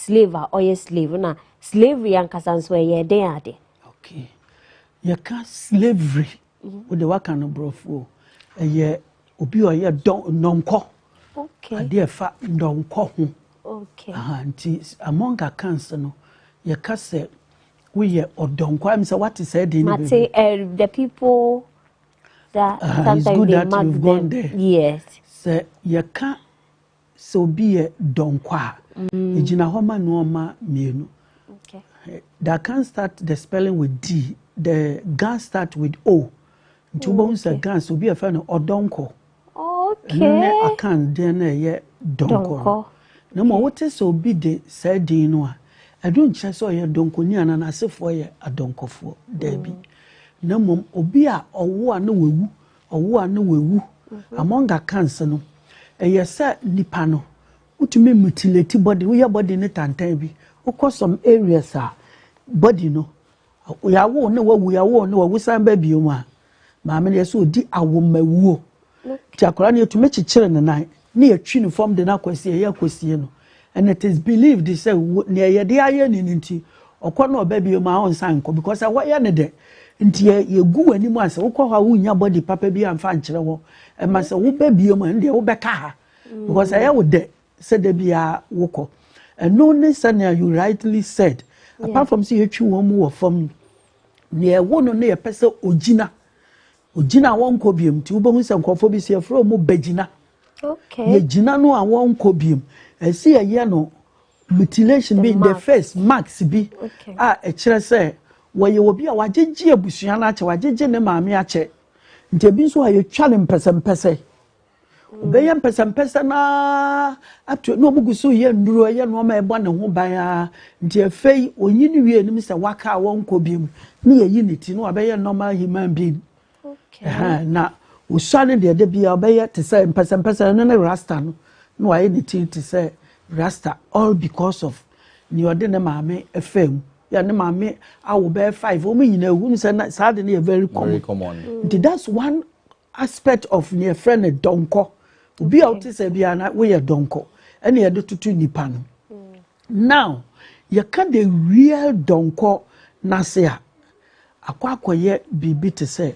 slave a ɔyɛ slave na slavery ankasa nso ɛyɛ den ade. okay yɛka slavery wode waka no borɔfoɔ ɛyɛ obi a ɔyɛ dɔnkɔ okay adeɛ ɛfa dɔnkɔ ho okay aha nti among accounts no yɛka sɛ woyɛ ɔdɔnkɔ ayɛ sɛ wate sɛ ɛde ne bɛbi mate eh, the people that uh, sometimes they mark them there. yes sɛ yɛka Sɛ obi yɛ dɔnkɔ a, egyina hɔ ma nnoɔma mmienu. Da kan start the spelling with D, the ga start with O. Nti wobɛhu sɛ ga sɛ obi a ɛfɛ no ɔdɔnkɔ. Ɛno ne akan deɛ no ɛyɛ dɔnkɔ no. Na mmom wote sɛ obi de saa din no a, ɛno nkyerɛ sɛ ɔyɛ dɔnkɔni anaa n'asefoɔ yɛ adɔnkɔfoɔ. Daabi. Na mmom obi a ɔwo a na wawu Ɔwo a na woewu. Among Kans no, ɛyɛ sɛ nipa no wotumi mutilate body, woyɛ body no tantan bi. Wokɔ some areas a body no, yɛawo na wawu, yɛawo na wawu san ba biom a, maame no yɛ sɛ odi awomawuo. Nti akwadaa no yɛtumi kyekyere ne nan. na yɛatwi no fam de no akɔ asieɛ, yɛ akɔsie no, and it is believed sɛ wo, nea yɛde ayɛ no no nti, ɔkɔ no ɔba bio maa ɔnsan nkɔ, because ɛhɔ yɛ no dɛ, nti yɛ, yɛgu w'anim a sɛ wokɔ hɔ a wonnya body papa bi amfa ankyerɛ hɔ, ɛma sɛ woba biom a, ɛndeɛ wobɛka ha, because ɛyɛ wo dɛ sɛ da biara wokɔ. Ɛno ne sɛnea you rightly said, apart from sɛ yɛtwi wɔn mu wɔ fam no, nea ɛwo no no yɛpɛ sɛ ɔgyina Ogyina a wɔnkɔ biom nti wobɛhu sɛ nkurɔfoɔ bi so yɛfrɛ wɔn bɛgyina. Okay. Yɛgyina no a wɔnkɔ biom. Ɛsi yɛyɛ no mutilation bi in the face marks bi a ɛkyerɛ sɛ wɔyɛ obi a wagyegye abusua no akyɛ wagyegye ne maame akyɛ nti ebi nso a yɛtwa no mpɛsɛmpɛsɛ. Ɔbɛyɛ mpɛsɛmpɛsɛ no ara ato na wɔgu so yɛ nnuro yɛ nneɛma a ɛbɔ ne ho ban ara nti afei ɔnyi ne wie anim sɛ waka a wɔnkɔ biom ne yɛyi ne ti na wabɛyɛ normal human being okay. na ɔsua no deɛ da biara ɔbɛyɛ te sɛ mpɛsɛmpɛsɛ ɛno ne rasta no na wayɛ ne ti te sɛ rasta all because of nea ɔde ne maame ɛfɛ mu yɛ ne maame awo bɛyɛ five wɔn nyinaa ehu sɛ saa de no yɛ very common nti that's one aspect of nea yɛfrɛ no dɔnkɔ obi a wote sɛ biara na woyɛ dɔnkɔ ɛna yɛde toto nipa no now yɛka the real dɔnkɔ n'ase a akɔ akɔyɛ biribi te sɛ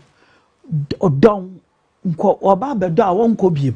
ɔdɔn nkɔ ɔba abɛdɔ a wɔnkɔ biem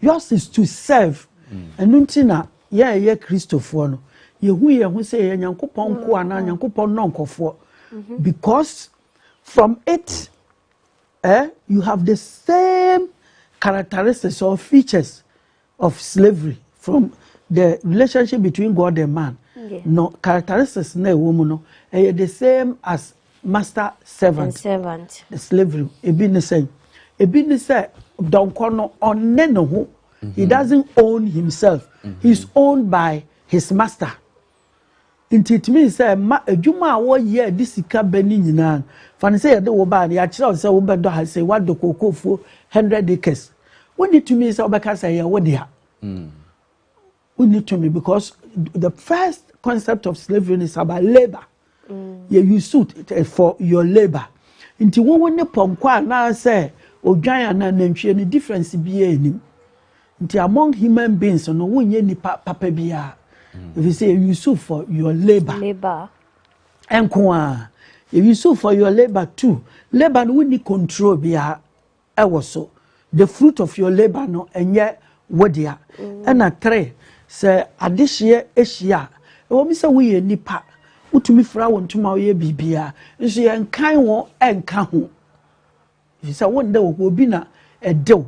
Yours is to serve. Ɛno nti na yɛn a yɛyɛ Kristofoɔ no, yɛhu yɛn ho sɛ yɛyɛ Nyankopɔn nkoa anaa Nyankopɔn nnɔnkɔfoɔ. Mm-hmm. Because from it, eh, you have the same characteristics or features of slavery from the relationship between God and man. Yeah. No characteristics na ɛwɔ mu no, ɛyɛ the same as master servant servant slavery ebi ne sɛ ebi ne sɛ dɔnkɔ no ɔne ne ho he mm-hmm. doesn't own himself mm-hmm. he is owned by his master nti it means sɛ ma adwuma a wɔyɛ a de sika bɛ ne nyinaa fa ne sɛ yɛde wo baa no yɛakyerɛ wo sɛ wobɛdɔ ha sɛ woadɔ kokofuo hundred acres wonni tumi sɛ wobɛka sɛ yɛ wo dea mm. wonni tumi because the first concept of slavery is about labour mm. yɛ you suit eh, for your labour nti wowo ne pɔnkɔ anaasɛ odwan anaa nantwie no difference biara anim nti among human beings no wonyɛ nipa papa biara mm. efi sɛ yɛ you suit for your labour labour nko a yɛ you suit for your labour too labour no wonni control biara. wɔ so the fruit of your labour no ɛnyɛ wo dea ɛna three sɛ adehyeɛ ahyia a ɛwɔ mi sɛ woyɛ nipa wotumi fira wo ntoma woyɛ biribiara nso yɛn kan wo ɛnka ho sɛ wo nda wɔ hɔ obi na ɛdew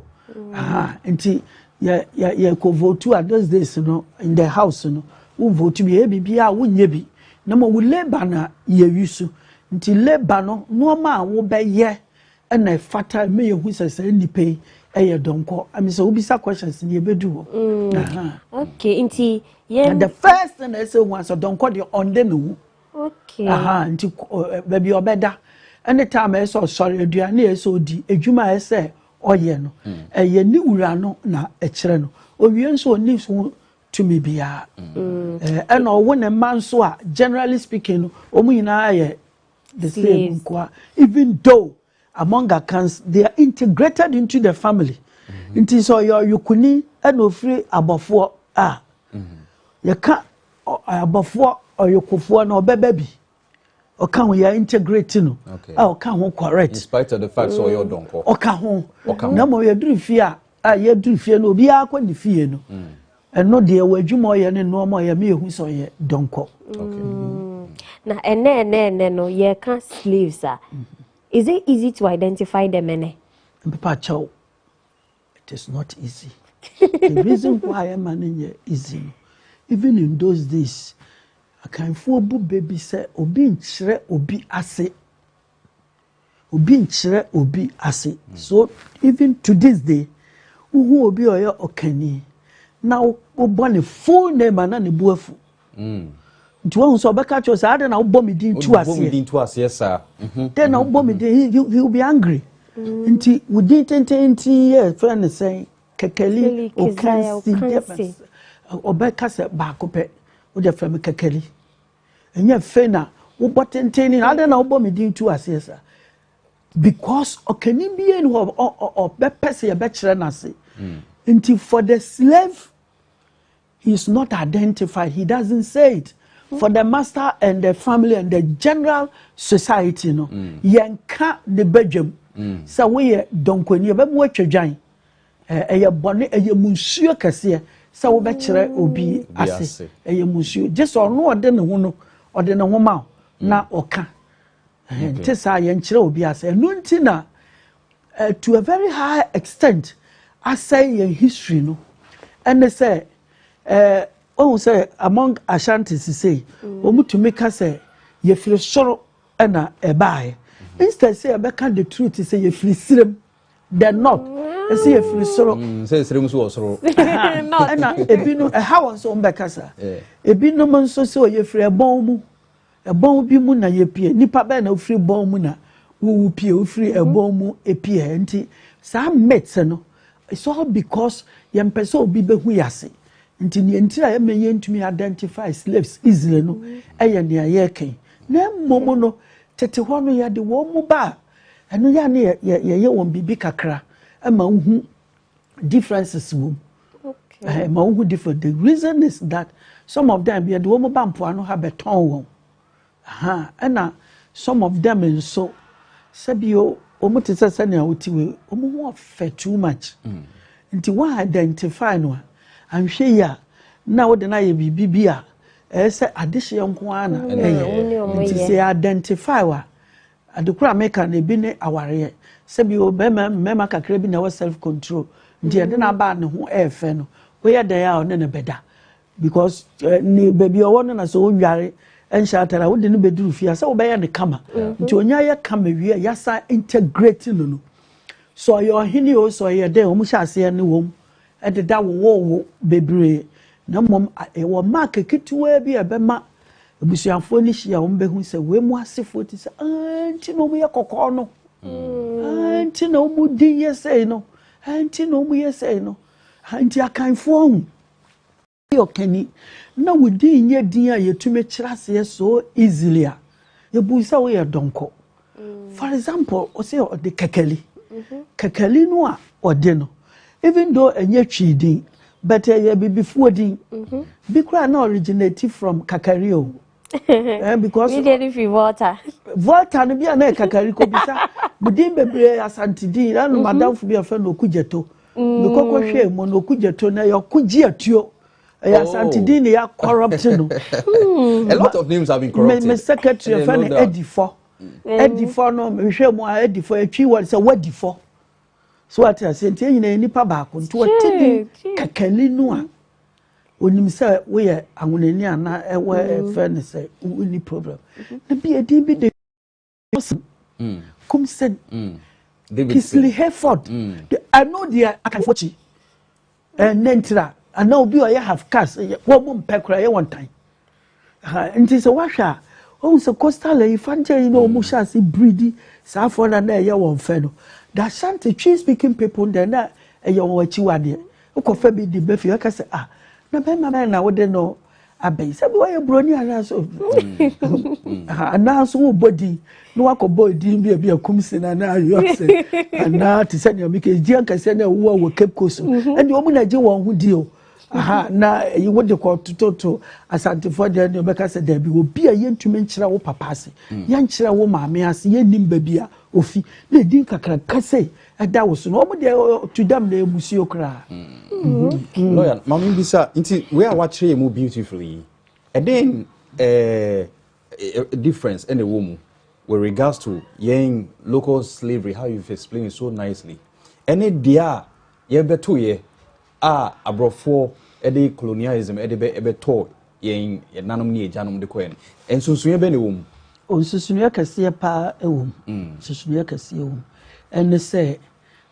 nti yɛ yɛ yɛ kɔ votu a those days no in the house no wo votu bi yɛ biribiara wo nyɛ bi na mo wo labour na yɛ wi so nti labour no nneɛma a wobɛyɛ na ɛfata ma yɛhu sɛ saa nnipa yi yɛ dɔnkɔ ɛmi sɛ wobisa questions ne yɛbɛdu hɔ mm. okay nti yɛn the first thing na ɛsɛ hu asɛ dɔnkɔ deɛ ɔnde ne ho okay aha nti baabi ɔbɛda ɛne time ɛsɛ ɔsɔre aduane ɛsɛ ɔdi adwuma ɛsɛ ɔyɛ no mm. ɛyɛ ne wura no na ɛkyerɛ no owie nso ɔni so tumi biara mm. ɛna ɔwo ne mma nso a generally speaking no wɔn nyinaa yɛ The same nkoa even though among akans they are integrated into the family mm-hmm. nti sɛ ɔyɛ ɔyokuni ɛna ofiri abɔfoɔ a mm-hmm. yɛka abɔfoɔ ɔyokofoɔ na ɔbɛbɛ bi ɔka ho yɛ integrate no a ɔka ho correct in spite of the fact sɛ ɔyɛ ɔdɔnkɔ ɔka ho na mmom yɛduru fie a a yɛduru fie no obiara kɔ ne fie no mm. ɛno deɛ wɔ adwuma ɔyɛ ne nnoɔma ɔyɛ me yɛhu sɛ ɔyɛ dɔnkɔ mm. na ɛnɛ ɛnɛ ɛnɛ no yɛka slaves a mm-hmm. is it easy to identify them ɛnɛ mpepa kyɛw it is not easy the reason why ɛma no nyɛ easy no even in those days akanfoɔ bu bɛ bi sɛ obi nkyerɛ obi ase Obi nkyerɛ obi ase. So even to this day, wohu obi a ɔyɛ ɔkani na wobɔ ne full name a na ne bo afu. Mm. Nti wohu sɛ ɔbɛka kyerɛ sɛ adɛn na wobɔ me din tu aseɛ. Wobɔ me din tu aseɛ saa. Mhm. Dɛn na wobɔ me mhm. din he he will be angry. Mm. Nti wo din tententen yɛ fɛn ne sɛn kɛkɛli okansi ɔbɛka sɛ baako pɛ wode fɛ me kɛkɛli. Ɛnyɛ afei na wobɔ tenten ne adɛn na wobɔ me din tu aseɛ saa because ɔkani bie ni hɔ ɔbɛpɛ sɛ yɛbɛkyerɛ no ase hmm. nti for the slave he is not identified he doesn't say it for the master and the family and the general society no hmm. yɛnka ne badwam hmm. sɛ woyɛ dɔnkɔni ɛbɛma woatwa dwan Ɛyɛ bɔne, ɛyɛ mu nsuo kɛseɛ sɛ wobɛkyerɛ obi ase, ɛyɛ mu nsuo. Gye sɛ ɔno ɔde ne ho no, ɔde ne ho ma wo mm. na ɔka. Nte saa yɛnkyerɛ obi ase. Ɛno nti na eh, to a very high extent asɛe yɛn history no ɛne sɛ eh, ɔhu sɛ among ashanti sisei mm. wɔn tumi ka sɛ yɛfiri soro ɛna ɛbaeɛ mm-hmm. instead sɛ yɛbɛka the truth sɛ yɛfiri sirem the north ɛsɛ yɛ firi soro. Mm, sɛ nsirem nso wɔ soro. ɛna ebinom ɛha wɔn nso wɔn bɛkasa ebinom nso sɛ ɔyɛ firi ɛbɔn mu ɛbɔn bi mu na yɛ pie nipa bɛyɛ na ofiri bɔn mu na wowu pie ofiri mhm. ɛbɔn mu epie nti saa myth no it's all because yɛn pɛ sɛ obi bɛhu yɛ ase nti nea ntira yɛ mɛ yɛn ntumi identify slaves easily no mhm. ɛyɛ nea yɛ kɛn na mmom no tete hɔ no yɛ de wɔn mu baa. Ɛno yɛ a ne yɛ yɛ yɛ wɔn biribi kakra ɛma wohu differences wɔ mu. Okay. Eh, ɛma wohu different. The reason is that some of them yɛde wɔn ba mpoano ha bɛtɔn wɔn. Aha ɛna some of them nso sɛbi o wɔn te sɛ sɛnea wɔte wei wɔn ho ɔfɛ too much. Mm. Nti wɔn identify no a anhwɛ yi a na wɔde no ayɛ biribi bi a ɛyɛ sɛ adehyeɛ nko ara na ɛyɛ. Nti sɛ identify wa. Ade koro a meka no ebi ne awareɛ. Sɛ bi o bɛrima mmarima kakra bi na ɛwɔ self control nti ɛde no aba a ne ho ɛyɛ fɛ no woyɛ dɛn a ɔne no bɛda because eh, ne baabi ɔwɔ no na sɛ ɔnware nhyɛ atare a wode no bɛduru fie a sɛ wobɛyɛ no kama mm-hmm. nti ɔnya yɛ kama wie a yɛasa integrate no no sɛ ɔyɛ ɔhene o sɛ ɔyɛ dɛn ɔmu hyɛ aseɛ ne wɔm de da wowoo wo bebree, na mmom yɛwɔ mark ketewaa bi a ɛbɛma abusuafoɔ no hyia a wɔbɛhu sɛ wei mu asefoɔ te sɛ aa nti na wɔyɛ kɔkɔɔ no aa nti na wɔn din yɛ sɛi no aa nti na wɔyɛ sɛi no aa nti akanfoɔ ho Woyɛ ɔkani na wo din nyɛ din a yɛtumi kyerɛ aseɛ so easily a, yɛbuu sɛ woyɛ dɔnkɔ. For example, ɔsɛ ɔde kɛkɛli. Mm-hmm. Kɛkɛli no a ɔde no, even though ɛnyɛ Twi din, but ɛyɛ bibifoɔ din. Mm-hmm. Bi koraa na originate from kakari o. eh, because mi deɛ ne fi volta volta no bi a na ɛkakari kɔ bi sa mo din bebree asante din na no mhm. madamfo bi afɛ no okugyeto mekɔkɔ mm. hwɛ mu no okugyeto na yɛ ɔkogye atuo ɛyɛ asante din na yɛ corrupt no hmm. a lot of names have been corrupted me secretary fɛ no edifɔ edifɔ no mehwɛ mu a edifɔ etwi wɔ sɛ wadifɔ so ate ase nti ɛnyina yɛ nipa baako nti wɔte din kakani no a. Onim sɛ woyɛ anwonani anaa ɛwɔ ɛfɛ ne sɛ wonni problem. Na bi edin bi de Wilson, mm. Kumsen, mm. Kisley Hayford. Mm. Ɛno deɛ akanfoɔ kyi. Ɛnɛ ntira anaa obi ɔyɛ half cast wɔn mu mpɛ koraa yɛ wɔn tan. Nti sɛ woahwɛ a, wohu sɛ coastal Ayifangya yi na wɔn hyɛ ase biridi saa afɔ na na ɛyɛ wɔn fɛ no. The Ashanti Twi speaking people deɛ na ɛyɛ wɔn akyiwadeɛ. Wokɔfa bi de ba fie aka sɛ ah na bɛrima bɛn na wode no abɛn sɛ bi wɔyɛ buroni anaasɛ anaa nso wobɔ din na wakɔbɔ din bi a bi akum se na na ayɔ sɛ anaa te sɛ nea mekɛ gye ankasɛ na ɛwowɔ wɔ Cape Coast ɛne wɔn na gye wɔn ho di o aha na ɛyi wo de kɔ tototo asantefoɔ deɛ ne ɔbɛka sɛ daabi obi a yɛntumi nkyerɛ wo papa ase mm. yɛnkyerɛ wo maame ase yɛnnim baabi a ofi na ɛdi nkakraka sɛ ɛda wo so no ɔmo deɛ to dam na ɛmusuo koraa mm. mm-hmm. lawyer maame bi sa nti wei a wakyerɛ yɛ mu beautiful yi ɛden eh, eh, difference ɛna ɛwɔ mu with regards to yɛn local slavery how you explain it so nicely ɛne deɛ a yɛbɛtoyɛ a aborɔfoɔ de colonialism de bɛ bɛtɔɔ yɛn nanom ne agyanom de kɔɛ no, nsonsonoeɛ bɛn na ɛwɔ mu? Nsonsonoeɛ kɛseɛ paa ɛwɔ mu. Mm. Nsonsonoeɛ kɛseɛ wɔ mu. Ɛne sɛ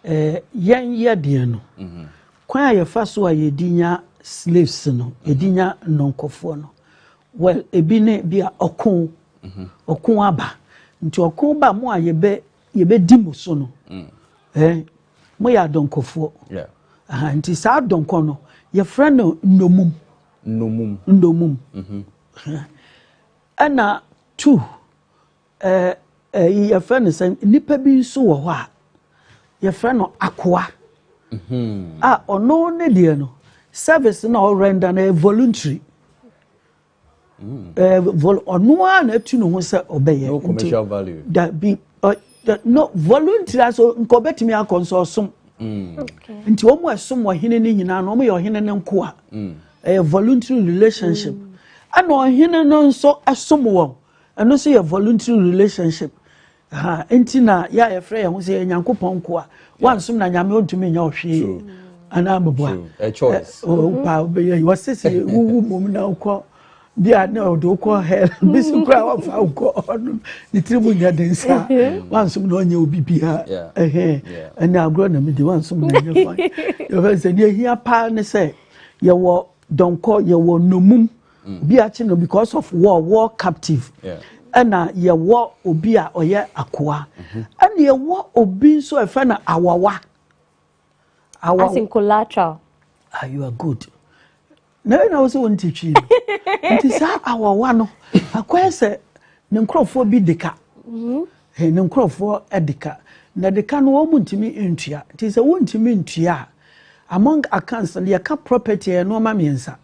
eh, yɛn yɛdeɛ no, mm -hmm. kwan a yɛfa so a yɛdi nya slaves no, mm -hmm. yɛdi nya nnɔnkɔfoɔ no, well, ebi ne bi a ɔko, mm -hmm. ɔko aba. Nti ɔko ba mu a yɛbɛ yɛbɛdi mo so no eh, moyɛ adɔnkɔfoɔ yeah. uh, nti saa adɔnkɔ no yɛfrɛ no nnomum nnomum nnomum mm -hmm. uh, ɛna tu eh, eh, yɛfrɛ no sɛ nnipa bi nso wɔ hɔ a yɛfrɛ no akoa mm -hmm. a ɔno ne deɛ no service na ɔrenda no yɛ voluntary Eh, ɔno ara na atu ne ho sɛ ɔbɛyɛ no commercial value dabi no volunteer so nka ɔbɛtumi akɔ nso ɔsom mm. nti wɔn a ɛsom ɔhene no nyinaa no wɔn yɛ ɔhene no nkoa mm. ɛyɛ voluntary relationship mm. ɛna ɔhene no nso ɛsom wɔn ɛno nso yɛ voluntary relationship. Aha enti na yɛ a yɛfrɛ yɛn ho sɛ yɛ Nyankopɔn nkoa. Wansom na Nyame ontumi nyɛ ɔhwee anaa meboa. Wopa wobɛyɛ yi wɔse sɛ wowu mmom na wokɔ bi a na ɔde wokɔ hell bi so koraa wɔfa wokɔ ɔno ne tiri mu nyɛ den saa wansom na ɔnyɛ obi biara ɛhɛn ɛne agorɔ na medi wansom na ɛnyɛ kwan yɛfɛ sɛ deɛ ɛhia paa ne sɛ yɛwɔ dɔnkɔ yɛwɔ nomum obi akye no because of war war captive ɛna yɛwɔ obi a ɔyɛ akoa mhm. ɛna yɛwɔ obi nso ɛfɛ na awawa awawa as in collateral ah you are good na ɛna wosɛ wɔn ti twi nti saa awawa no akɔyɛ sɛ ne nkorɔfoɔ bi de ka mhm. eh, ne nkorɔfoɔ de ka na de ka no wɔn ntumi ntua nti sɛ wɔn ntumi ntua among accounts yɛka property yɛ nneɛma mmiɛnsa.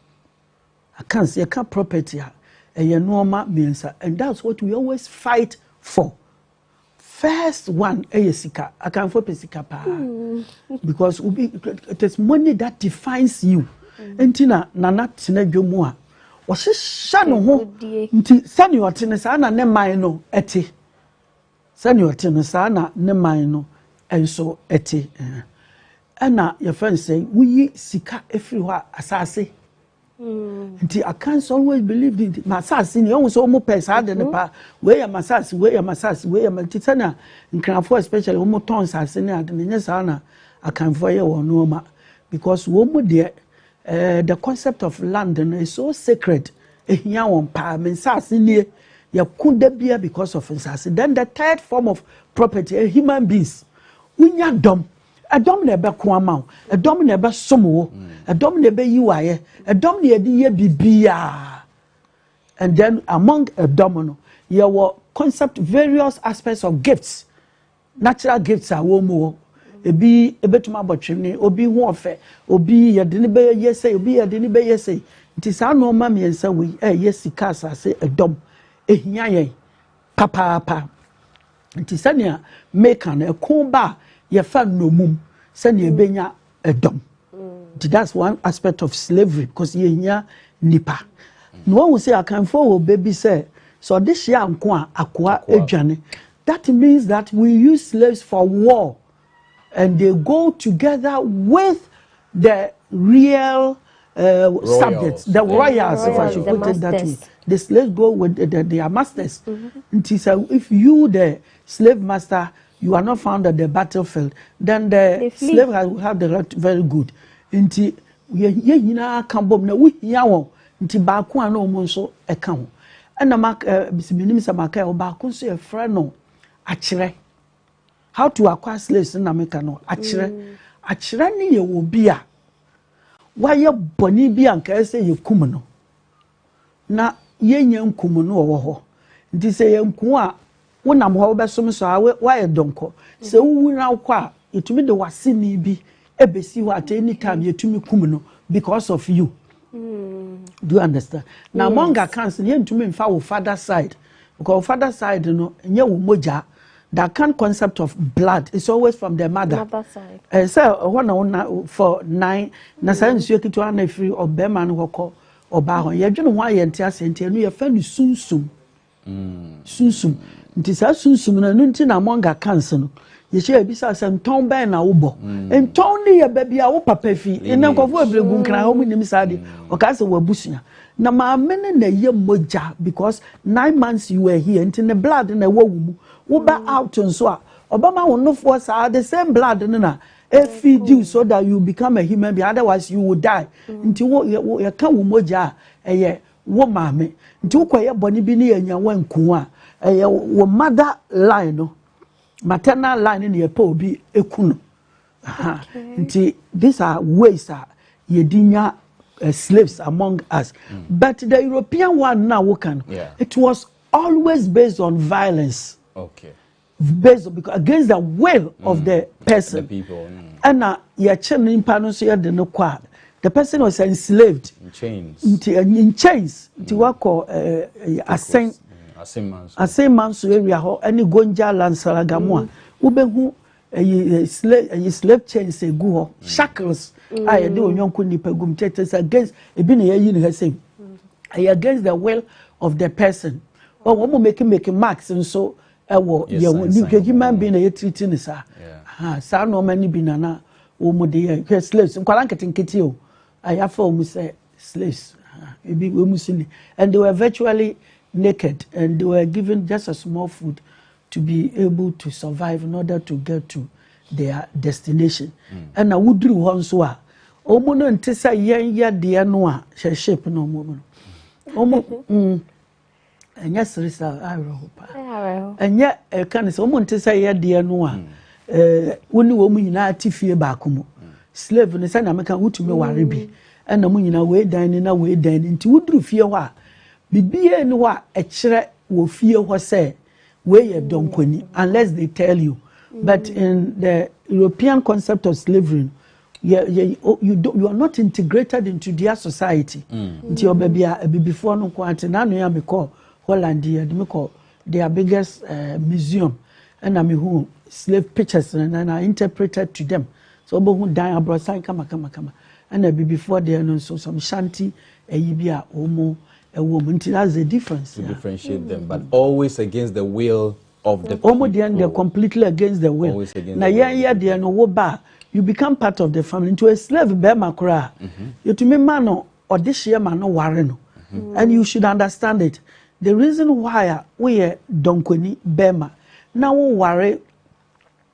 Accounts, yɛka property a, ɛyɛ nnoɔma mmiɛnsa and that's what we always fight for. First one ɛyɛ sika. Akanfoɔ pɛ sika paa. Hmm. Because obi it is money that defines you. Hmm. Nti na nana tena dwa mu a ɔhyehyɛ ne ho nti sɛnea ɔte ne saa na ne man no ɛte. Sɛnea ɔte no, saa na ne man no nso te. Ɛna yɛfrɛ no sɛ woyi sika firi hɔ a, asase. Nti I can't always believe in masase ni ɛhu sɛ wɔn pɛ saa de ne mhm. paa wei yɛ masase wei yɛ masase wei yɛ masase sɛnea nkranfoɔ especially wɔn tɔn nsase ne ade ne nyɛ saa na akanfoɔ yɛ wɔn nneɛma because wɔn mu deɛ Eh the concept of land no is so sacred ehia wɔn paa me nsaase nie yɛko da bia because of nsaase then the third form of property eh, human beings wonya dɔm ɛdɔm na ɛbɛko ama wo ɛdɔm na ɛbɛsom wo ɛdɔm na ɛbɛyi wayɛ ɛdɔm na yɛde yɛ bibiaa and then among ɛdɔm no yɛwɔ concept various aspects of gifts Natural gifts a wɔn wɔ, ebi ebetumi abɔ twene, obi ho ɔfɛ, obi yɛde ne bɛyɛ sɛ, obi yɛde ne bɛyɛ sɛ. Nti saa nneɛma mmiɛnsa wei ɛyɛ sika asase ɛdɔm, ehia yɛn papaapa. Nti sɛnea meka no ɛko ba a yɛfa nnommum sɛnea ebenya ɛdɔm nti that's one aspect of slavery because yɛhia nipa na wahu sɛ akanfoɔ wɔ bɛ bi sɛ sɛ ɔde hyia nko a akoa adwane that means that we use slaves for war and they go together with the real uh, subjects the royals if i should put it that way the slaves go with the, the, their masters mm -hmm. nti sɛ if you the Slave master you are not found at the battle field then the, the slave has will have the right very good nti yɛ nyinaa ka bom na wohia wɔn nti baako a na wɔn nso ɛka ho ɛna ma ɛɛ menim sɛ maka ɛwɔ baako nso yɛfrɛ no akyerɛ how to acquire slaves na meka no akyerɛ mm. akyerɛ ne yɛ obi a wayɛ bɔne bi a nkae sɛ yɛkum no na yɛnnya nku mo na ɔwɔ hɔ. Nti sɛ yɛanku wo a, wonam hɔ a wobɛsom nso a, woayɛ dɔnkɔ. Sɛ wowu na wokɔ a, yɛtumi de w'aseni bi bɛsi hɔ at any time, yɛtumi kum no because of you. Mm. Do you understand? Na yes. among accounts, yɛntumi mfa wo father side because wo father side no nyɛ wo mogya that kind of concept of blood is always from the mother. Mother side. Eh, sɛ ɛhɔ na wona for nine na saa mm. nsuo ketewa na ɛfiri ɔbɛrima no hɔ kɔ Ɔbaa hɔ. Yɛdwene ho a yɛnte aseɛ nti ɛno yɛfɛ no sunsum. Sunsum. Nti saa sunsum no ɛno nti na among accounts no yɛhyɛ yɛbisa sɛ ntɔn bɛn na wobɔ. Ntɔn no yɛ baabi a wo papa fi. Nnɛ nkurɔfoɔ bebree gu nkran wɔn nnim saa adeɛ. Ɔkaa sɛ w'abusua. Na maame no na ɛyɛ mogya because nine months you were here nti ne blood na ɛwɔ wo mu. Woba out nso a ɔbɛma wo nofoɔ saa the same blood no na If you do so that you become a human being, otherwise you will die. Mm. Nti wo yɛ ka wo mogya a ɛyɛ wo maame. Nti wo kɔ yɛ bɔne bi ne yɛ nya wɔn nko a ɛyɛ wo mother line no maternal line ne yɛ pɛ obi eku no. Nti these are ways a yɛdi nya uh, slaves among us. Mm. But the European one now wo kan. Yeah. It was always based on violence. Okay. based because against the will mm. of the mm. person the people mm. ɛna yɛkye no nipa no nso yɛde no kɔ a the person was enslaved in chains nti eh, in chains nti mm. wakɔ eh, eh, asɛn asɛn manso area hɔ ɛne gonja lansalagamu a mm. wobɛhu ɛyi slave ɛyi slave chains egu hɔ mm. shackles a yɛde onyɔnko nipa gum kyɛkyɛ sɛ against ebi na yɛyi ne ha sɛm ɛyɛ against the will of the person wɔn mo make make marks nso. So, ɛwɔ yɛwɔ nipadwuma bi na yɛtiriti no saa aha saa nneɛma no bi na na wɔn de yɛ hwɛ slaves nkwadaa nketenkete o ayafa wɔn sɛ slaves ebi wɔn si ni and they were virtually naked and they were given just a small food to be able to survive in order to get to their destination mm. ɛna woduru hɔ nso a wɔn no nte sɛ yɛn yɛ deɛ no a hyɛ shape na wɔn mu no wɔn mu. ɛnyɛ sere sɛ awerɛho pa ɛnyɛ ɛka ne sɛ wɔn nte sɛ yɛ deɛ no a hmm. ɛɛ wɔn ne wɔn nyinaa te fie baako mu hmm. slave no sɛnea meka wotumi hmm. ware bi ɛna mo nyinaa wei dan ne na wei dan ne nti woduru fie hɔ a bibie ne hɔ a ɛkyerɛ wɔ fie hɔ sɛ wei yɛ dɔnkɔni unless they tell you but in the European concept of slavery yɛ yɛ oh, you do you are not integrated into their society mm. nti ɔbɛ bi a abibifoɔ no nko ate n'ano yɛ mekɔ holland yɛ de mekɔ their biggest uh, museum ɛna mehu slave pictures no na na interpreted to them so ɔbɛhu dan aborɔsan kamakamakama ɛna abibifoɔ deɛ no nso some shanty ɛyi bi a wɔn ɛwɔ mu nti that's the difference. to yeah. differentiate them but always against the will. of the people. Wɔn deɛ no deɛ completely against the will. Always against Na the yɛn will. yɛ deɛ no wo ba a, you become part of the family. Nti o slave bɛrima koraa. Yɛtumi ma no ɔde hyeɛ ma no ware no. And you should understand it. The reason why a woyɛ dɔnkɔni bɛrima na woware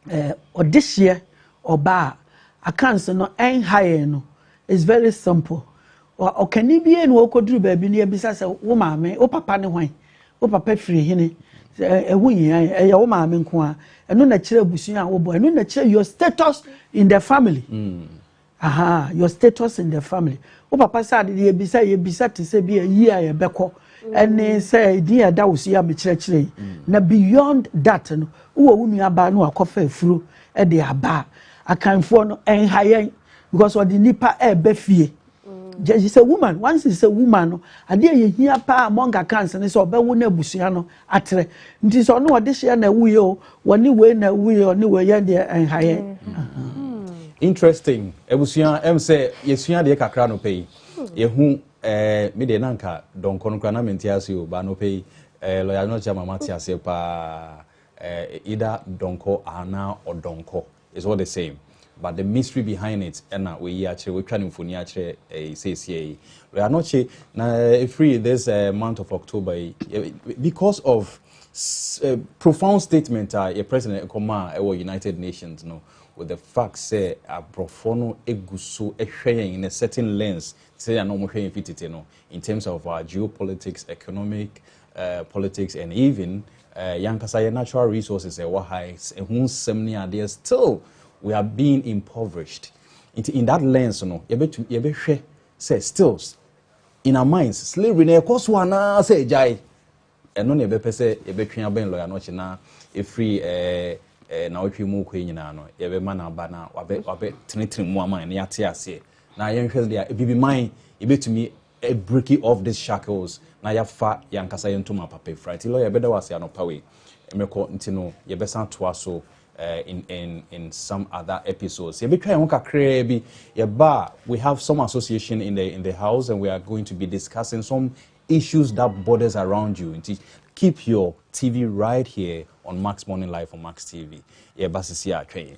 eh, ɔdehyeɛ ɔba a akanse no ɛnha yɛn no is very simple ɔkani bie na ɔkɔduru baabi no yɛbisa sɛ wo maame wo papa ne hwan wo papa firi hene ɛho nyia ɛyɛ wo maame nko a ɛno na kyerɛ abusua a wobɔ ɛno na kyerɛ your status in the family mm. Ahaa your status in the family wo papa sɛ ade deɛ ebisa yɛbisa te sɛ bi a yie a yɛbɛkɔ ɛne mm. sɛ edin a ɛda wo so yɛ a mekyerɛkyerɛ yi mm. na beyond that no wowɔ wo nua baa no akɔfa afuro ɛde aba akanfoɔ no ɛnha yɛn because ɔde nipa ɛɛbɛ fie mm. she's a woman once she's a woman no adeɛ yɛ hia paa among akans ne sɛ ɔbɛwo no abusua no atere nti sɛ ɔne ɔdehyeɛ na ɛwuiɛ o wɔne wei na ɛwuiɛ ɔne wei yɛ deɛ ɛnhaeɛ interesting abusua ɛm sɛ yɛsua deɛ kakra no pɛ yi yɛhu eh, me deɛ na nka dɔnkɔ no kora na mente ase o baa no pɛ yi eh, lɔya no kyɛ ma mate aseɛ paa eh, ida dɔnkɔ anaa ɔdɔnkɔ It's all the same but the mystery behind it ɛna wɔyi akyerɛ wɔatwa no mfoni akyerɛ ɛyi seesie yi wei anɔkye na efiri this uh, month of October yi because of uh, profound statement a yɛ president ɛkɔma a ɛwɔ United Nations no with the fact sɛ aborɔfoɔ no egu so ɛhwɛ yɛn in a certain lens sɛ yɛn a wɔhwɛ yɛn fi tete no in terms of our geopolitics economic eh, politics and even eh, yankasa yɛ natural resources ɛwɔ ha ɛho nsɛm ne adeɛ still we are being impoverished nti in that lens no yɛbɛtu yɛbɛhwɛ sɛ stills in our minds slavery na ɛkɔ so anaa sɛ agyae ɛno na yɛbɛpɛ sɛ yɛbɛtwe abɛn lɔya no ɔkye na ɛfiri eh, eh, na ɔtwe mu kɔ nyinaa no yɛbɛma no aba na wabɛ wabɛ tenetene mu ama ne yɛate aseɛ na yɛnhwɛ deɛ ebibi man yɛbɛtumi a breaking off this shackles na yɛafa yɛn ankasa yɛn ntoma papa afira nti lawyer yɛbɛda wo ase anɔpa wei mɛkɔ nti no yɛbɛsan atoa so eh, in, in, in some other episodes yɛbɛtwa yɛn ho kakraa bi yɛba a we have some association in the, in the house and we are going to be discussing some issues that borders around you nti keep your tv right here on max morning live on max tv yɛba sisi a twɛn yɛn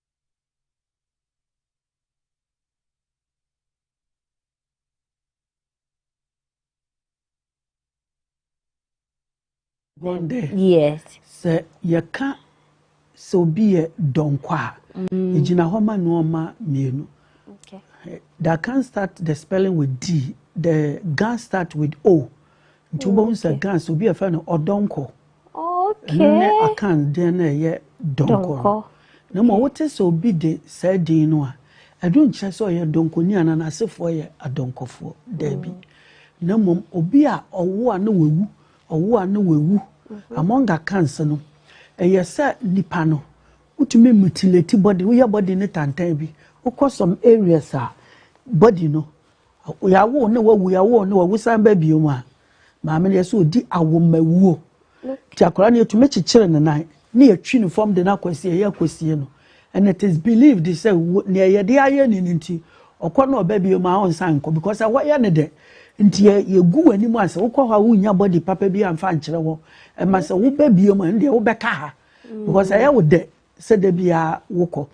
Wɔn dɛ. Yes. Sɛ yɛka sɛ obi yɛ dɔnkɔ a, mm. egyina hɔ ma nneɛma mmienu. Okay. Eh, that can start the spelling with D. The gan start with O. Nti wobɛhu sɛ gan sɛ obi yɛfrɛ no ɔdɔnkɔ. Ɛno ne Akan din no a ɛyɛ Donkor no. Na mmom wote sɛ obi de saa din no a, ɛno nkyerɛ sɛ ɔyɛ donkoni anaa n'asefoɔ yɛ adɔnkɔfoɔ. Daabi. Na mmom obi a ɔwo a na wawu, ɔwo a na wawu. Mm-hmm. Among Akans no, ɛyɛ sɛ nipa no, wotumi mutilate body, woyɛ body no tantan bi. Wokɔ some areas a, body no, Yɛawo ne wawu, yɛawo ne wawu san ba bio mu a, maame no yɛ sɛ ɔdi awomawuo. Nti akwadaa no yɛtumi kyekyere ne nan ne yɛtwi ne fam de no akɔsi ɛyɛ akɔsie no. And it is believed sɛ nea yɛde ayɛ ne no nti ɔkɔ na ɔba bio mu a ɔnsan nkɔ because ɛhɔ yɛ ne dɛ. Nti yɛgu w'anim a sɛ wokɔ hɔ a wonnya body papa bi amfa nkyerɛ hɔ. Ɛma sɛ woba bio mu a ɛndeɛ wobɛka ha because ɛyɛ wo dɛ. sɛ da biara wokɔ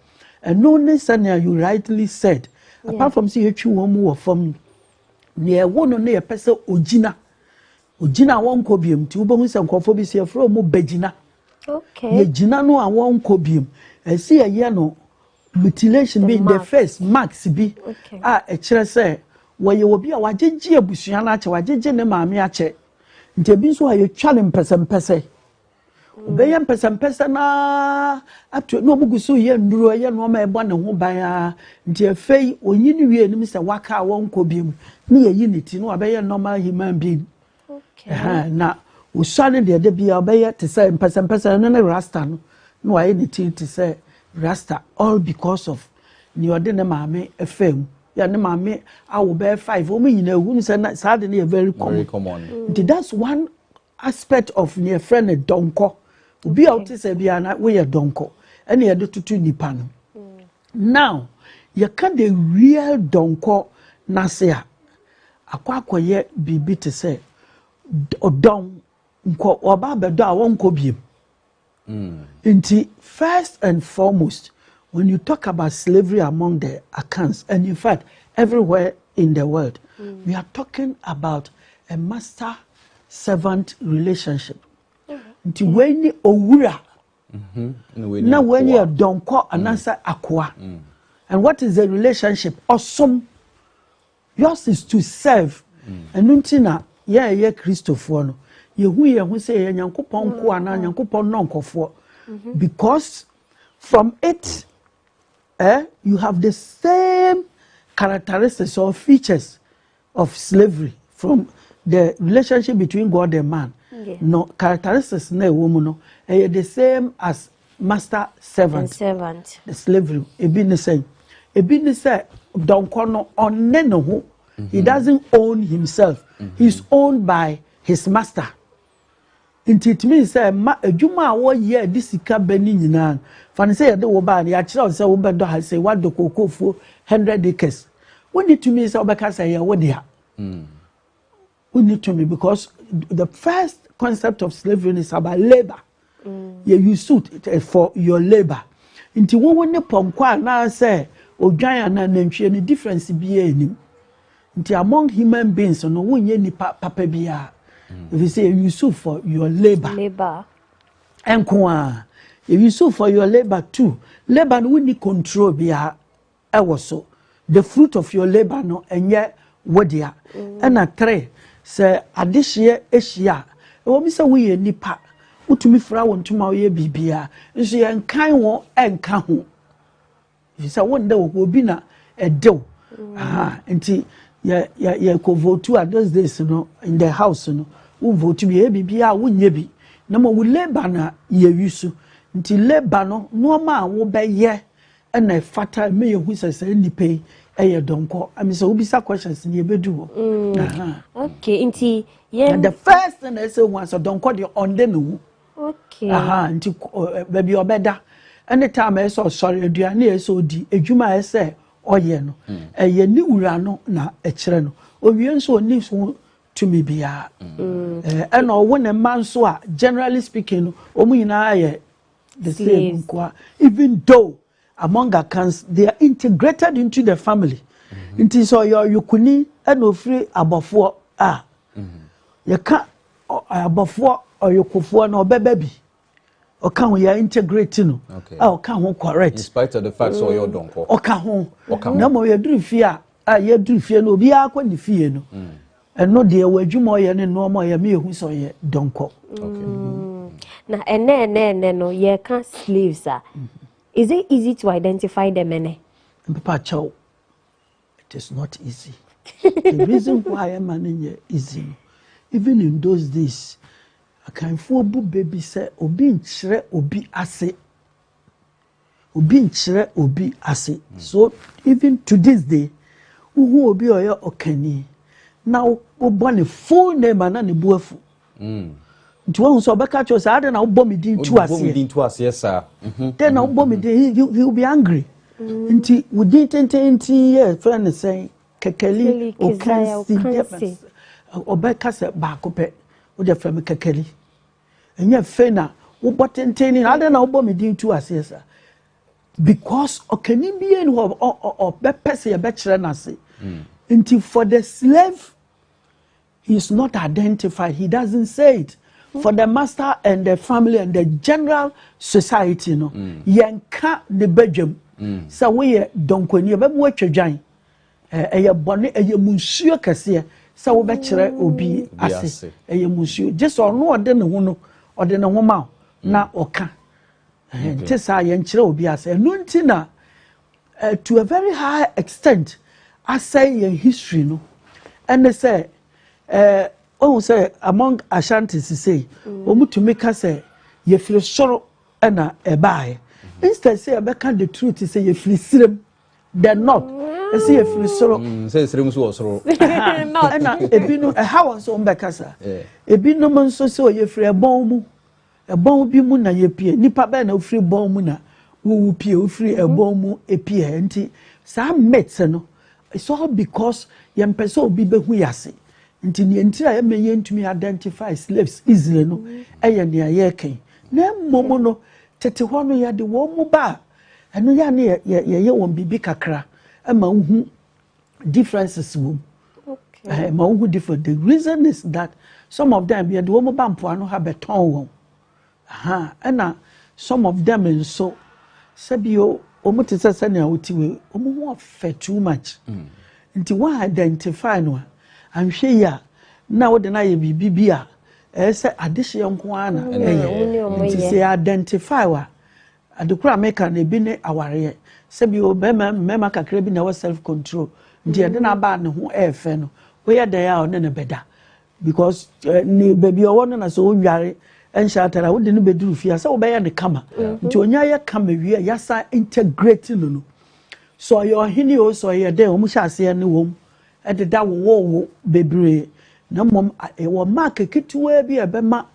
ɛno ne sɛnea you rightly said apart from sɛ yɛtwi wɔn mu wɔ fam no nea ɛwo no ne yɛpɛ sɛ ogyina ogyina a wɔnkɔ biam nti wobɛhu sɛ nkurɔfoɔ bi sɛ yɛfrɛ wɔn bɛgyina yɛgyina no a wɔnkɔ biam ɛsi yɛyɛ no mutilation bi in the face marks bi a ɛkyerɛ sɛ wɔyɛ obi a wagyegye abusua no akyɛ wagyegye ne maame akyɛ nti ebi nso a yɛtwa no mpɛsɛmpɛsɛ ɔbɛyɛ mpɛsɛmpɛsɛ no ara ato na ɔmo gu so yɛ nnuro ɛyɛ nneɛma a ɛbɔ ne ho ban ara nti afei ɔnyin wie anim sɛ waka a wɔnkɔ biom ne yɛyi ne ti na wabɛyɛ normal human being Ɛhɛn, na ɔsua no deɛ da biara ɔbɛyɛ te sɛ mpɛsɛmpɛsɛ ɛno ne rasta no na wayɛ ne ti te sɛ rasta all because of nea ɔde ne maame ɛfaa mu yɛ ne maame awo bɛyɛ five wɔn nyinaa ehu no sɛ na saa de no yɛ very very common common nti that's one aspect of nea yɛfrɛ no dɔnkɔ obi a wote sɛ biara na woyɛ dɔnkɔ ɛna yɛde toto nipa no now yɛka the real dɔnkɔ n'ase a akɔ akɔyɛ biribi te sɛ d- ɔdɔn nkɔ ɔba abɛdɔ a wɔnkɔ biem Nti first and foremost when you talk about slavery among the Akans and in fact everywhere in the world we are talking about a master servant relationship. Nti wei ni owura mm-hmm. na wei ni ɛdɔnkɔ mm. anaasɛ akoa mm. and what is the relationship ɔsom. Yours is to serve. Ɛno nti na yɛn a yɛyɛ Kristofoɔ no, yɛhu yɛn ho sɛ yɛyɛ Nyankopɔn nkoa anaa mm-hmm. Nyankopɔn nnɔnkɔfoɔ. Mm-hmm. Because from it, eh, you have the same characteristics or features of slavery from the relationship between God and man. Yeah. No characteristics na ɛwɔ mu no, ɛyɛ the same as master servant servant slavery ebi ne sɛ ebi ne sɛ dɔnkɔ no ɔne ne ho he mm-hmm. doesn't own himself mm-hmm. he is owned by his master nti it means sɛ ma adwuma a wɔyɛ a de sika bɛ ne nyinaa fa ne sɛ yɛde wo baa no yɛakyerɛ wo sɛ wobɛdɔ ha sɛ woadɔ kokofuo hundred acres wonni tumi sɛ wobɛka sɛ yɛ wo dea mm. Wo ni to me because the first concept of slavery is about labour. Mm. Yeah, you suit eh, for your labour. Nti wo wo ne pɔnkɔ anaasɛ odwan anaa nantwie no difference biara anim. Nti among human beings no wonyɛ nipa papa biara. Mm. If you say you suit for your labour. Labour. Nko a. You suit for your labour too. Labour no wonni control biara. wɔ so the fruit of your labour no ɛnyɛ wo dea ɛna three sɛ adehyeɛ ahyia a ɛwɔ mi sɛ woyɛ nipa wotumi fira wo ntoma woyɛ biribiara nso yɛn kan wo ɛnka ho sɛ wo nda wɔ hɔ obi na ɛdew nti yɛ yɛ yɛ kɔ votu a those days no in the house no wo votu bi yɛ biribiara wonyɛ bi na ma wo labour na yɛ wi so nti labour no nneɛma a wobɛyɛ. na ɛfata ma yɛhu sɛ saa nnipa yi ɛyɛ dɔnkɔ ɛmi sɛ wobisa questions ni ebedu hɔ. Mm. okay nti yɛn. the first thing na ɛsɛ hu asɛ dɔnkɔ deɛ ɔnde ne ho. okay nti baabi ɔbɛda ɛne time ɛsɛ ɔsɔre aduane ɛsɛ odi adwuma ɛsɛ ɔyɛ no mm. ɛyɛ ne wura no na ɛkyerɛ no owie nso ɔni so tumi biara mm. ɛna ɔwo ne mma nso a generally speaking no wɔn nyinaa yɛ The same nkoa even though among akans they are integrated into the family mm-hmm. nti sɛ ɔyɛ ɔyokuni ɛna ofiri abɔfoɔ a mm-hmm. yɛka abɔfoɔ ɔyokofoɔ na ɔbɛbɛ bi ɔka ho yɛ integrate no a ɔka ho correct in spite of the fact sɛ ɔyɛ ɔdɔnkɔ ɔka ho na mmom yɛduru fie a a yɛduru fie no obiara kɔ ne fie no mm. ɛno deɛ wɔ adwuma ɔyɛ ne nnoɔma ɔyɛ me yɛhu sɛ ɔyɛ dɔnkɔ mm. na ɛnɛ ɛnɛ ɛnɛ no yɛka slaves a mm-hmm. is it easy to identify them ɛnɛ mpepa kyɛw it is not easy the reason why ɛma no nyɛ easy no even in those days akanfoɔ bu baabi sɛ obi nkyerɛ obi ase Obi nkyerɛ obi ase. So even to this day, wohu obi a ɔyɛ ɔkanni na wobɔ ne full name a na ne bo afu. Mm. Nti wohu sɛ ɔbɛka kyerɛ sɛ adɛn na wobɔ me din tu aseɛ. din tu aseɛ saa. Mhm. Dɛn na wobɔ me mhm. din he will be angry. Mm. Nti wo din tenten nti yɛ fɛn ne sɛn kɛkɛli okansi ɔbɛka sɛ baako pɛ wode fɛ me kɛkɛli. Ɛnyɛ afei na wobɔ tenten ne adɛn na wobɔ me din tu aseɛ saa because ɔkani bie ni hɔ ɔbɛpɛ sɛ yɛbɛkyerɛ no ase hmm. nti for the slave he is not identified he doesn't say it for the master and the family and the general society no hmm. yɛnka ne badwam hmm. sɛ woyɛ dɔnkɔni ɛbɛma woatwa dwan Ɛyɛ bɔne, ɛyɛ munsuo kɛseɛ sɛ wobɛkyerɛ obi ase. Ɛyɛ munsuo. Gye sɛ ɔno ɔde ne ho no, ɔde ne ho ma wo na mm. ɔka. Nti saa yɛnkyerɛ obi ase. Ɛno nti na eh, to a very high extent asɛe yɛn history no ɛne sɛ eh, ɔhu sɛ among ashanti sisei mm. wɔmutumi ka sɛ yɛfiri soro ɛna ɛbaeɛ mm-hmm. instead sɛ yɛbɛka the truth sɛ yɛfiri sirem the north ɛsɛ yɛ firi soro. Mm, sɛ nsirem nso wɔ soro. ɛna ebinom ɛha wɔn nso wɔn bɛkasa ebinom nso sɛ ɔyɛ firi ɛbɔn mu ɛbɔn bi mu na yɛ pie nipa bɛyɛ na ofiri bɔn mu na wowu pie ofiri mhm. ɛbɔn mu epie nti saa myths no it's all because yɛn pɛ sɛ obi bɛhu yɛ ase nti nea nti a ɛmɛ yɛn ntumi identify slaves easily no mhm. ɛyɛ nea yɛreka yi na mmom no tete hɔ no yɛde wɔn mu ba Ɛno yɛ a ne yɛ yɛyɛ wɔn biribi kakra ɛma wohu differences wɔ mu. Okay. Ɛma wohu different. The reason is that some of them yɛde wɔn ba mpoano ha bɛtɔn wɔn. Aha ɛna some of them nso sɛbi o wɔn te sɛ sɛnea wɔte wei wɔn ho ɔfɛ too much. Mm. Nti wɔn identify no a anhwɛ yi a na wɔde no ayɛ biribi bi a ɛyɛ sɛ adehyeɛ nko ara na ɛyɛ. Nti sɛ yɛ identify wa. Ade koro a meka no ebi ne awareɛ. Sɛbi o bɛrima mmarima kakra bi na ɛwɔ self control nti ɛde no aba a ne ho ɛyɛ fɛ no woyɛ dɛn a ɔne no bɛda because eh, ne baabi ɔwɔ no na sɛ ɔnware ɛnhyɛ atare a wode no bɛduru fie a sɛ wobɛyɛ no kama nti ɔnya yɛ kama wie a yɛasa integrate no no sɛ ɔyɛ ɔhene o sɛ ɔyɛ dɛn ɔmu hyɛ aseɛ ne wɔm ɛdeda wowowo bebree na mmom ɛwɔ mark ketewaa bi a ɛbɛma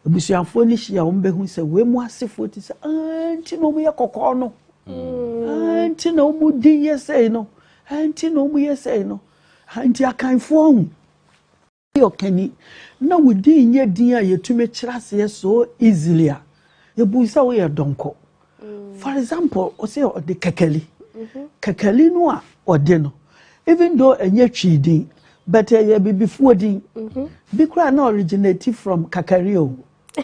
abusuafoɔ no hyia a wɔbɛhu sɛ wei mu asefoɔ te sɛ ah nti na wɔyɛ kɔkɔɔ no ah nti na wɔn din yɛ sɛi no ah nti na wɔn yɛ sɛi no ah nti akanfoɔ ho. Woyɛ ɔkani na wo din nyɛ din a yɛtumi kyerɛ aseɛ so easily a, yɛbu sɛ woyɛ dɔnkɔ. For example, ɔsɛ ɔde kɛkɛli. Kɛkɛli no a ɔde no, even though ɛnyɛ Twi din, but ɛyɛ Abibifoɔ din. Bi koraa na originate from Kakari o,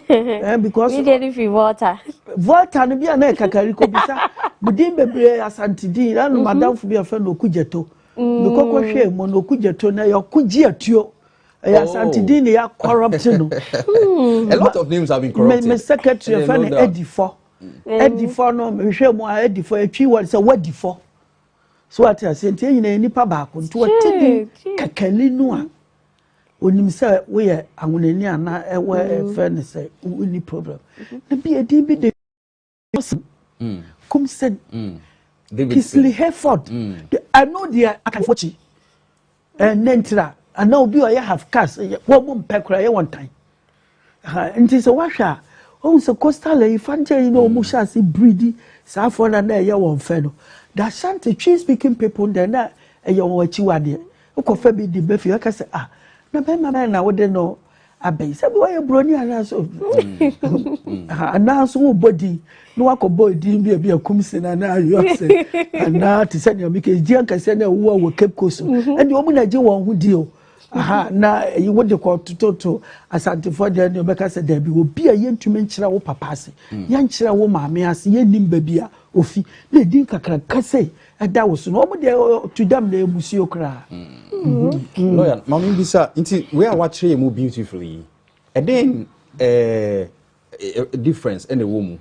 eh, because mi deɛ ne fi volta volta no bi a na ɛkakari kɔ bisa me din bebree asante din na no mhm. madamfo bi a fɛ no ɔku gyeto mekɔkɔ mm. hwɛ mu no ɔku gyeto na yɛko gye atuo ɛyɛ asante din na yɛ corrupt no hmm. a lot of names have been corrupted me, me secretary fɛ no adifɔ mm. adifɔ no mehwɛ mu a adifɔ atwi wɔ sɛ wadifɔ so wate aseɛ nti yɛn nyinaa yɛ nipa baako nti wɔte bi kakani no a onim sɛ woyɛ ahonani ana ɛwɔ ɛfɛ ne sɛ wonni problem na bi ɛdin bi de kumsen kisili hereford ɛno deɛ akanfoɔ kyi Ɛɛ ne ntira anaa obi a ɔyɛ half cast wɔn mu mpɛ koraa yɛ wɔn tan nti sɛ wahwɛ a ohun sɛ coastal ayi fankyɛ yi na wɔn hyɛ ase biridi saa afɔ na na ɛyɛ wɔn fɛ no the ashanti twi speaking people deɛ na ɛyɛ wɔn akyiwadeɛ wokɔfa bi di bɛfi ɛka sɛ ah na bɛrima bɛn na wode no abɛn sɛ bɛ wɔyɛ buroni anaasɛ anaasɛ wobɔ din na wakɔbɔ din bi a bi akum se na na ayɔ se anaa te sɛ nea meka ɛgye ankɛsɛ na ɛwowa wɔ cape coast mhm. ɛne ɔmu na gye wɔn ho di o aha na ɛyi eh, wode kɔ tototo asantefoɔ deɛ ne ɔbɛka sɛ daabi obi a yɛntumi nkyerɛ wo papa ase mm. yɛnkyerɛ wo maame ase yɛnnim baabi a ofi na ɛdin kakraka sɛ ɛda wo so na wɔn deɛ to dam na emusuo koraa. Mm-hmm. lawyer maame bi sa nti wei a wakyerɛ yɛ mu beautifully yi ɛdɛn ɛɛ difference ɛna ɛwɔ mu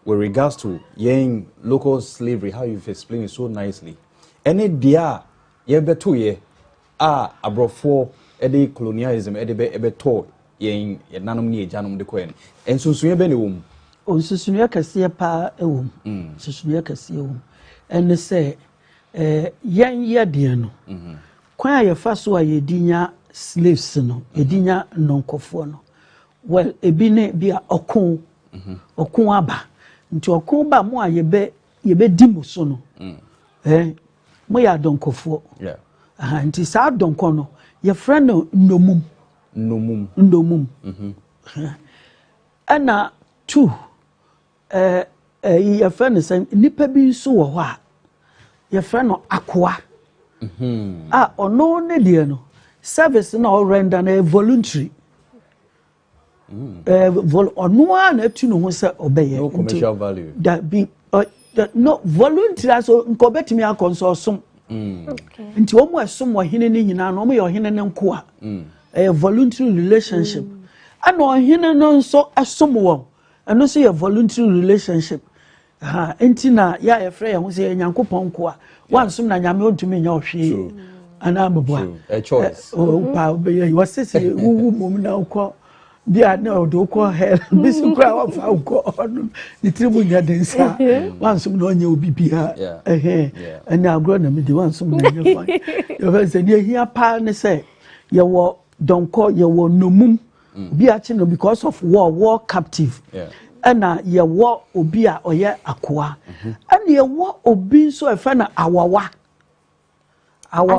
with regards to yɛn local slavery how you explain it so nicely ɛne deɛ a yɛbɛto yɛ a aborɔfoɔ de colonialism de bɛ bɛtɔɔ yɛn yɛn nanom ne agyanom de kɔɛ no, nsonsonoeɛ bɛn na ɛwɔ mu? Nsonsonoeɛ kɛseɛ paa wɔ mu. Mm. Nsonsonoeɛ kɛseɛ wɔ mu. Ɛne sɛ eh, yɛn yɛdeɛ no, mm -hmm. kwan a yɛfa so a yɛdi nya slaves no, mm-hmm. yɛdi nya nnɔnkɔfoɔ no, well, ebi ne bi a ɔko, mm-hmm. ɔko aba. Nti ɔko ba mu a yɛbɛ yɛbɛdi mu so no, mm. eh, Mo yɛ adɔnkɔfoɔ. Yeah. Aha, nti saa adɔnkɔ no, yɛfrɛ no nnomum. Nnomum. Nnomum. Mm-hmm. Ɛna tu, ɛɛ, ɛyi yɛfrɛ no sɛ nipa bi nso wɔ hɔ a, yɛfrɛ no akoa. Mm-hmm. A ɔno ne deɛ no, service na ɔrenda no yɛ voluntary. Eh, vol ɔno ara na atu ne ho sɛ ɔbɛyɛ no commercial value da bi no volunteer so nka ɔbɛtumi akɔ nso ɔsom mm. nti wɔn a ɛsom ɔhene no nyinaa no wɔn yɛ ɔhene no nkoa mm. ɛyɛ voluntary relationship mm. ɛna ɔhene no nso ɛsom wɔn ɛno nso yɛ voluntary relationship Aha nti na yɛ a yɛfrɛ yɛn ho sɛ yɛ Nyankopɔn nkoa. Wansom na Nyame ontumi nyɛ ɔhwee anaa meboa. Wopa wobɛyɛ yi wɔse sɛ wowu mmom na wokɔ bi a na ɔde wokɔ hell bi so koraa wɔfa wokɔ ɔno ne tiri mu nyɛ den saa wansom na ɔnyɛ obi biara ɛhɛn ɛne agorɔ na medi wansom na ɛnyɛ fan yɛfɛ sɛ deɛ ɛhia paa ne sɛ yɛwɔ dɔnkɔ yɛwɔ nomum Obi akye no because of war, war captive. Ɛna yɛwɔ obi a ɔyɛ akoa. Mm-hmm. Ɛna yɛwɔ obi nso ɛfɛ no awawa. Awawa.